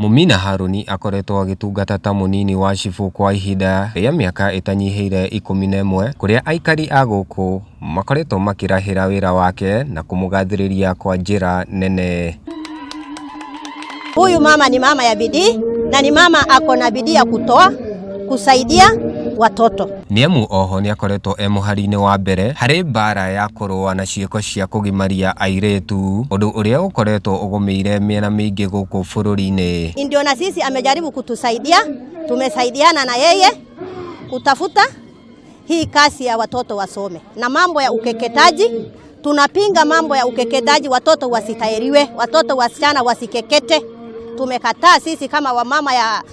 Mũmina Harũni akoretwo agĩtungata ta mũnini wa cibũ kwa ihinda rĩa mĩaka ĩtanyihĩire ikũmi na ĩmwe, kũrĩa aikari a gũkũ makoretwo makĩrahĩra wĩra wake na kũmũgathĩrĩria kwa njĩra nene. Huyu mama ni mama ya bidii na ni mama ako na bidii ya kutoa kusaidia watoto. Nĩ amu oho nĩ akoretwo e mũhari-inĩ wa mbere harĩ mbaara ya kũrũa na ciĩko cia kũgimaria airĩtu, ũndũ ũrĩa ũkoretwo ũgũmĩire mĩena mĩingĩ gũkũ bũrũri-inĩ. Ndio na sisi amejaribu kutusaidia, tumesaidiana na yeye kutafuta hii kasi ya watoto wasome na mambo ya ukeketaji. Tunapinga mambo ya ukeketaji, watoto wasitahiriwe, watoto wasichana wasikekete. Tumekataa sisi kama wamama ya